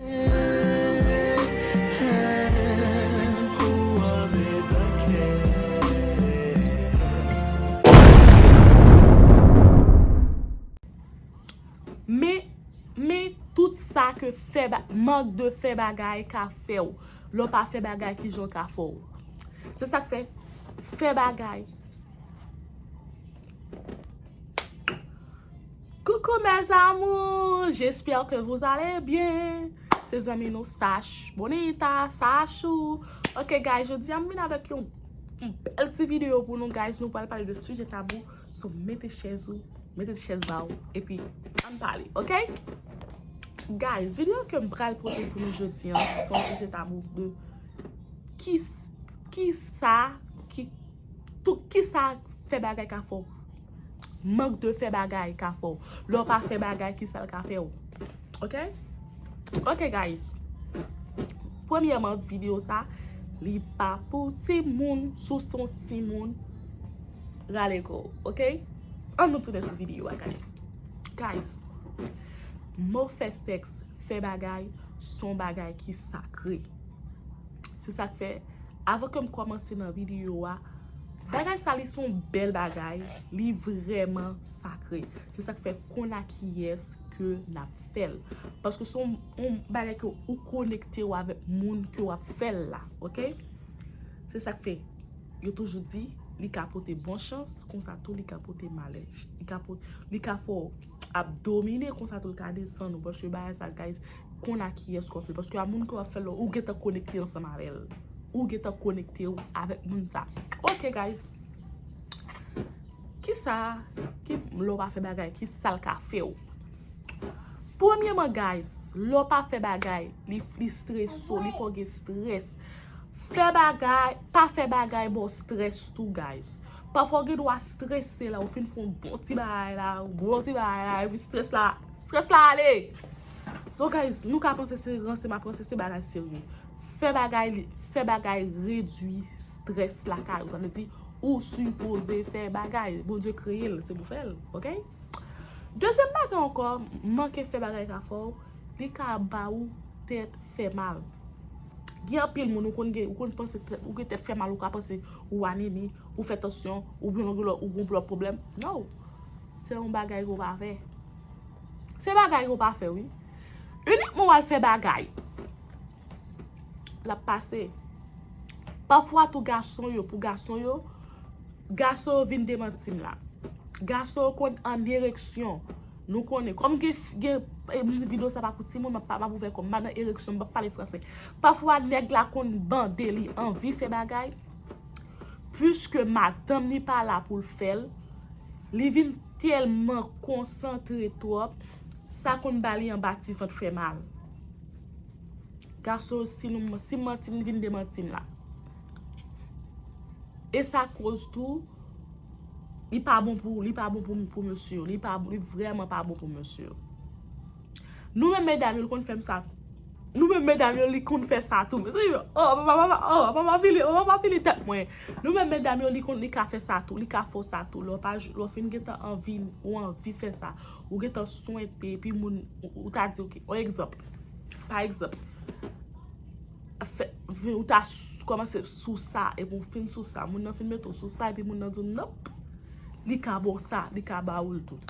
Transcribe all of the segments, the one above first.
Men, men, tout sa ke fè ba, mank de fè bagay ka fè w, lè w pa fè bagay ki jan w ka fè w. Se sa k fè, fè bagay. Coucou mes amours, j'espère que vous allez bien Se zanmi nou Sash Bonita, Sashou Ok guys, jodi a m vin avèk yon bèl ti video pou nou guys Nou pral pale de sujet tabou So mete chèz ou, mete ti chèz ba ou Epi, ann pale, ok? Guys, video ke m pral pote pou nou jodi a Son sujet tabou de Ki, ki sa, ki, tout, ki sa fè bagay ka fè w Manque de fè bagay ka fè w. Lè w pa fè bagay ki sa l ka fè w. Ok? Ok guys. Premyèman video sa li pa pou ti moun sou se yon ti moun rale kò w. Ok? An nou tounen sou video a guys. Guys. Mo fè sèks, fè bagay son bagay ki sakre. Se sak fè, avan kem kòmanse nan video a, bagay sa li son bèl bagay, li vrèman sakre. Se sak fè konn a kiyès ke nap fèl. Paske son on bagay ke ou konekte ou avèk moun ke wap fèl la. Ok? Se sak fè, yo toujou di, li ka pote bon chans, konsa tou li ka pote malè. Li ka fè ou ap domine, konsa tou li ka desann ou. Paske bagay sa guys. Konn a kiyès ke w ap fè l. Paske a moun ke w ap fè l la, ou gentan konekte ansanm avè l. Ou gentan konekte w avèk moun sa. Ok guys. Kisa ki lè w pa fè bagay, ki sa l ka fè w? Premyeman guys, lè w pa fè bagay, li fristre so, li fè w gen strès. Fè bagay, pa fè bagay ba w strès tou guys. Pafwa w gen dwa strese la, ou fin fè yon bon ti bagay la, yon bon ti bagay la, epi strès la, strès la ale! So guys, nou ka panse se ranse map ranse se bagay serye. Fè bagay li, fè bagay redwi stress lakay ou. Sa vle di ou sipoze fè bagay. Bondye kreye l, se pou fè l. Ok? Dezyèm bagay ankò, manke fè bagay ka fè w, li ka ba ou tèt fè mal. Gen anpil moun ou konn gen, ou konn panse tèt, ou gen tèt fè mal ou ka panse ou anemi, ou fè tansyon, ou gen lòt, ou gen lòt pwoblèm. No! Se yon bagay ke w pa vè. Se bagay yo pa fè wi. Unikman wal fè bagay. Lap pase. Pafwa tou gason yo pou gason yo. Gason yo vin demantim la. Gason yo konn an ereksyon. Nou konnen. Kom gen gen mdi video sa pa pou ti moun. Map ouvè kom. Map nan ereksyon. Map pale franse. Pafwa neg la konn bande li anvi fè bagay. Puiske madanm li pa la pou l fè l, li vin tèlman konsantre twòp, sa konn ba li anba ti vant fè mal. Gason yo si nou, si m manti m vin demanti m la. E sa koz tou, li pa bon pou, li pa bon pou mesye yo, li pa, li vrèman pa bon pou mesye yo. Nou menm medam yo li konn fèm sa tou. Nou menm medam yo li konn fè sa tou. Mezanmi yo oh papa papa oh papa pa fini papa pa fini tèt mwen. Nou menm medam yo li konn li ka fè sa tou li ka fè w sa tou lè w pa lè w fin gentan anvi ou anvi fè sa ou gentan swente epi moun ou ta di ok on egzanp pa egzanp fè vi ou ta kòmanse sou sa epi ou fin sou sa moun nan fin mete w sou sa epi moun nan di w nonp li ka ba w sa li ka ba ou l tou.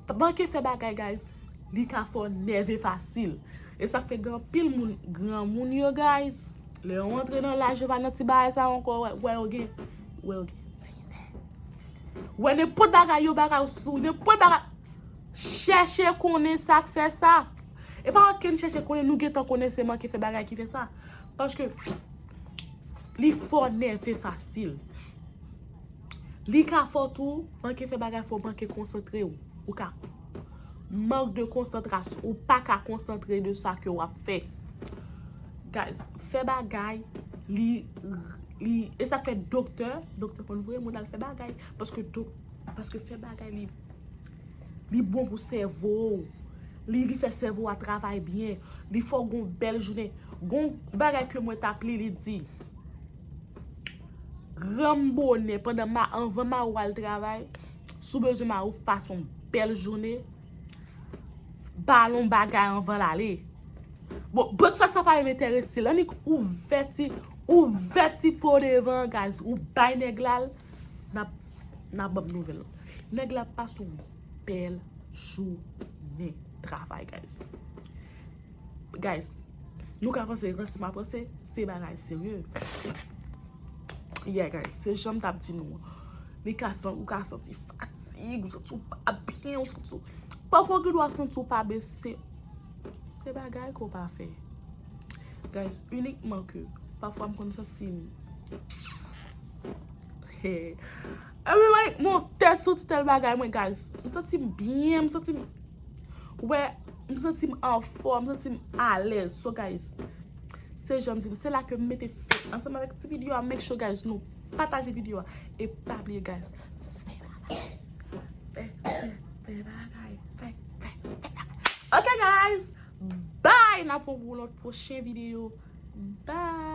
T manke fè bagay guys li ka fè w nève fasil e sak fè gen anpil moun granmoun yo guys lè yo antre nan laj yo pa nan ti bagay sa yo ankò ou wè yo gen ou wè yo gen ti nè ou wè nenpòt bagay yo bagay yo sou nenpòt bagay chèche konnen sak fè sa e pa okenn chèche konnen nou gentan konnen se manke fè bagay ki fè sa paske li fè w nève fasil. Li ka fò tou, manke fè bagay fè w manke konsantre w. Ou ka mank de konsantras, ou pa ka konsantre de sa ke w ap fè. Guys, fè bagay, li, li, e sa fè doktè, doktè konn voye moun al fè bagay. Paske dok, paske fè bagay li, li bon pou sèvo w. Li, li fè sèvo w a travay byen. Li fè w gen yon bèl jounen. Gon bagay ke mwen t ap li, li di. Granm bone pandan ma anvan ma ou al travay sou bezwen ma ou pas on bel jounen balon bagay anvan la le bon breakfast sa pa rete re sil annik ou vèti ou vèti pou devan gaz ou bay nèg lal nap nap banm nouvel nèg la pas on bel jounen travay gaz. Guys, nou ka panse ranse map ranse, se bagay serye. Yeah guys, se janm tap di nou. Li ka san, ou ka santi fatig, ou santi ou pa byen, ou santi ou... Pafwa gen dwa santi ou pa byen, se... Se bagay ke ou pa fè. Guys, unikman ke, pafwa m konn santi m... Hey! Epi mwen monte sou ti tel bagay mwen guys. M santi m byen, m santi m... Ou wè, m santi m anfòm, m santi m alèz. So guys, se jan m di nou, se la ke m mete fè. Ansanm avèk ti video a, make sure guys nou pataje video a. E pa bliye guys, fè bagay. Fè, fè, fè bagay. Fè, fè, fè bagay. Ok guys, bye! N ap wè pou lòt pwochen video. Bye!